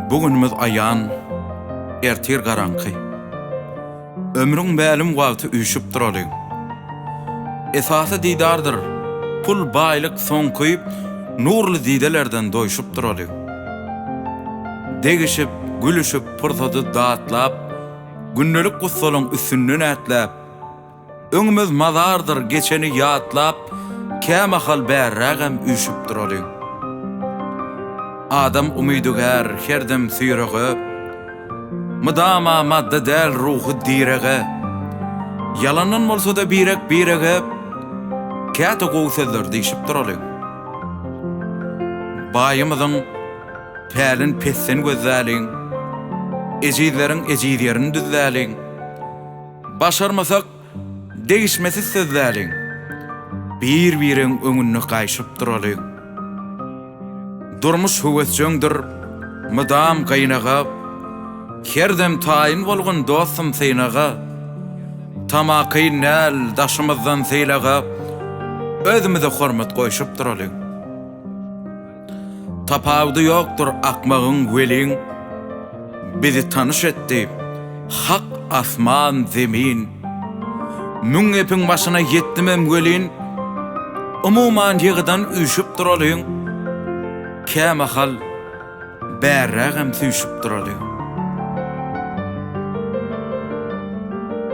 Bu günümiz aýan, ertir garaňky. Ömrüň mälim wagty üýşüp duraly. Esasy didardyr, pul, baýlyk soňky, nurly didelerden doýşup duraly. Degişip, gülüşip, pursady datlap, gündelik gussalaň üstünden ätläp, Öňümiz mazardyr geçeni ýatlap kämahal bärrägem üýşüp duralyň. Adam umydygär her dem süýrege, mydama madda däl ruhy direge, ýalandan bolsada birek birege käte gowy sözler diýşip duralyň. Baýymyzyň pälin pesden gözläliň, ejizleriň ejiz ýerini düzläliň. Başarmasak, degişmesiz sözläliň. Bir-bireň öňünde gaýşyp duralyň. Durmuş höwesjeňdir, mydam gynaga, Her dem taýyn bolgun dostum synaga. Tamakin däl, daşymyzdan sylaga, Özümize hormat goýşup duralyň. Tapawudy ýokdur akmagyň weliň Bizi tanyş etdi hak asman zemin Müň gepiň başyna ýetdimem welin Umuman ýygydan üýşüp duralyň Kämahal bärrägem süýşüp duralyň.